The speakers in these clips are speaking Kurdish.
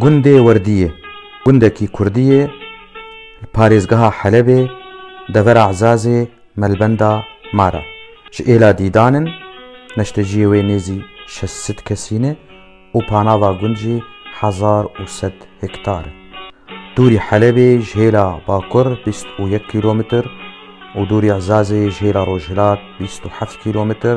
Gundê Werdiyê gundekî kurdî ye li parêzgeha Helebê devera Ezazê melbenda mar e. Ji êla dîdan in, neşteciyê wê nêzî şeş sed kesî ne û panava gund jî hezar û sed hektar e. Dûrî Helebê ji hêla bakur bîst û yek kîlometr û dûrî Ezazê ji hêla rojhilat bîst û heft kîlometr,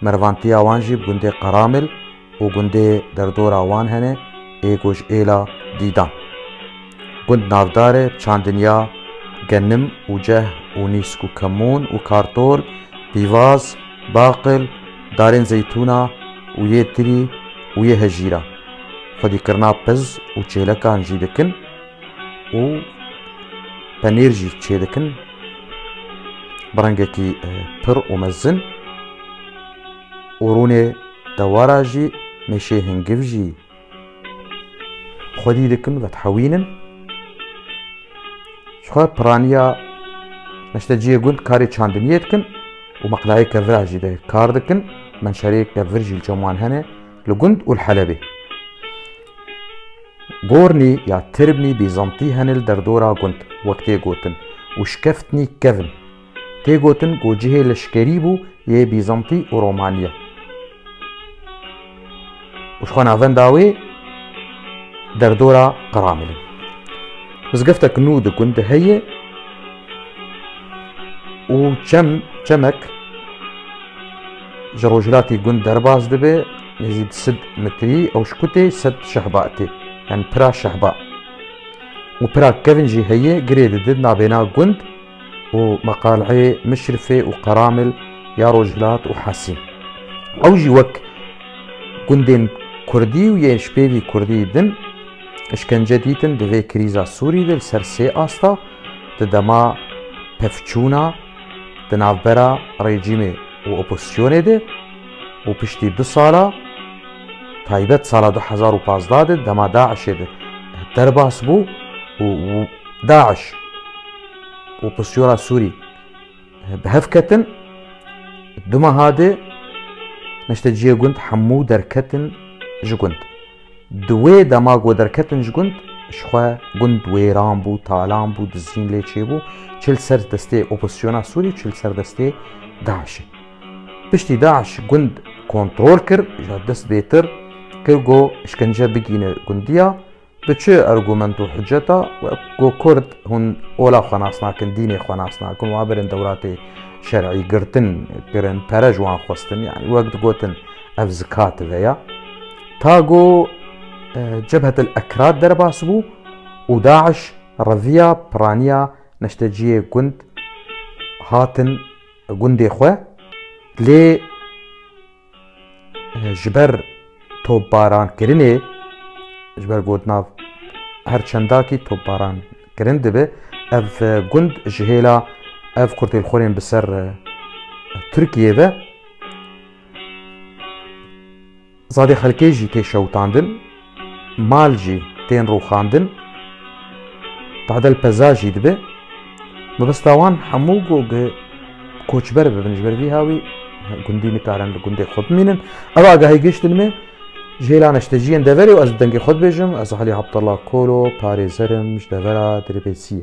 Mervantiya wan jî gundê Qaramil û gundê derdora wan hene ê ku ji êla Dîdan, gund navdar e, Çandinya, Genim û Ceh û Nîsk û Kemûn û Kartol, Pîvaz, Baqil, Darên Zeytûna û yê Tirî û yê Hejîra. Xwedîkirina piz û çêlekan jî dikin. û penêr jî çêdikin bi rengekî pir û mezin û rûnê dewara jî mêşê hingiv jî xwedî dikin vedhewînin ji xwe piraniya neşte ciyê gund karê çandiniyê dikin û meqlayê kevira jî de kar dikin menşerê kevir jî li çeman hene li gund û li helebê Gornî ya tirbnî bîzantî hene li derdora gund wek tê gotin û şikeftnî kevn. Tê gotin ku cihê leşkerî bû yê Bîzantî û Romaniya. Û ji xwe navenda wê derdora Qiramilin. Mizgeftek nû di gundê heye û çem çemek Ji rojhilatê gund derbas dibe nêzî di sid mitrî ewşkûtê sed şehba tê, yani pira şehba û pira kevn jî heye girê didin navêna gund û meqaleyê Mişrifê û Qeramil ya rojhilat û Hesîn. Ew jî wek gundên kurdî û yên jpêvî kurdî din îşkence dîtin di vê krîza Sûrî de li ser sê asta, di dema pevçûna, di navbera rejîmê û opozîsyonê de û piştî du sala taybet sala du hezar û pazdeh de dema DAIŞ'ê de derbas bû û DAIŞ û opozîsyona Sûrî bi hev ketin du meha de neşteciyê gund hemû derketin ji gund. Di wê dema ku derketin ji gund, ji xwe gund wêran bû, talan bû, dizîn lê çêbû, çi li ser destê opozîsyona Sûrî û çi li ser destê DAIŞ'ê. Piştî DAIŞ gund kontrol kir, ji dest bêtir kir ku îşkence bigîne gundiya, bi çi argument û hiceta ku kurd hûn ola xwe nas nakin, dînê xwe nas nakin, wan birin dewlatê şer'î, girtin kirin, pere ji wan xwestin, yanî wek digotin ev zikativeya. Ta ku Cebhet El Ekrad derbas bû û Daiş reviya piraniya neşteciyê gund hatin gundê xwe lê ji ber topbarankirinê ji ber got nav her çendakî topbaran kirin dibe ev gund ji hêla ev kurtêlxorên bi ser Tirkiyê ve Zade xelkê jî tê şewitandin, mal jî tên rûxandin, tadel peza jî dibe. Mebesta wan hemû ku bi koçber bibin ji ber vî hawî gundî nikarin li gundê xwe bimînin. Ev agahî giştin me ji hêla neşteciyên deverê û ez bi dengê xwe dibêjim ez Alî Abdullah Kolo parêzer im ji devera Dirbêsiyê.